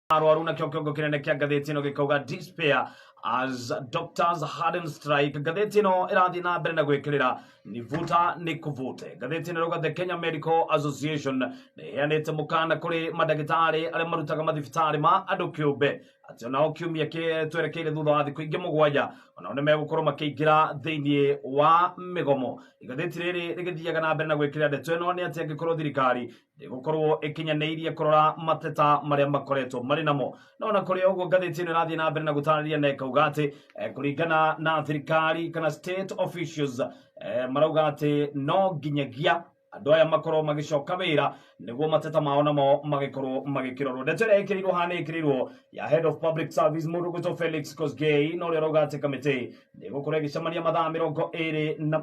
arwaru na kĩongo kĩnene kĩa ngathĩti ĩno gĩkauga despair as doctors harden strike ngathĩti ĩno ĩrathiĩ na mbere na gwĩkĩrĩra nĩ vuta nĩ kũvute ngathĩti ĩno rauga the kenya medical association nĩheanĩte mũkana kũrĩ mandagĩtarĩ arĩa marutaga mathibitarĩ ma andũ kĩũmbe atĩ onao kiumia kĩ- twerekeire thutha wa thikũ ingĩ mũgwanja onao nĩ megũkorwo makĩingĩra thĩinĩ wa mĩgomo igathĩti rĩrĩ rĩgĩthiaga na mbere na gwĩkĩrĩra ndeto ĩno nĩ atĩ angĩkorwo thirikari ndĩgũkorwo ĩkinyanĩirie kũrora mateta marĩa makoretwo marĩ namo no na kũrĩ ũguo ngathĩti ĩno ĩrathiĩ na mbere na gũtarĩria na ĩkauga atĩ eh, kũringana na thirikari kana state officials eh, marauga atĩ no nginyagia andå aya makorwo magĩcoka wĩra nĩguo mateta mao namo magĩkorwo magĩkĩrorwo ndeto ĩrĩa ĩkĩrĩirwo hana ĩkĩrĩirwo ya head of public service mũndũ gwĩtwo felix kosgei na ũrĩa ũrauga atĩ kamĩtĩ nĩgũkorwo ĩgĩcemania mathaa mĩrongo ĩrĩ na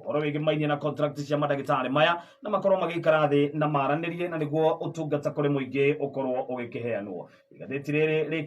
ũhoro wĩgiĩ mainie na contract cia mandagĩtarĩ maya na makorwo magĩikara thĩ na maranĩrie na nĩguo ũtungata kũrĩ mũingĩ ũkorwo ũgĩkĩheanwo igathĩti rĩrĩ rĩkĩ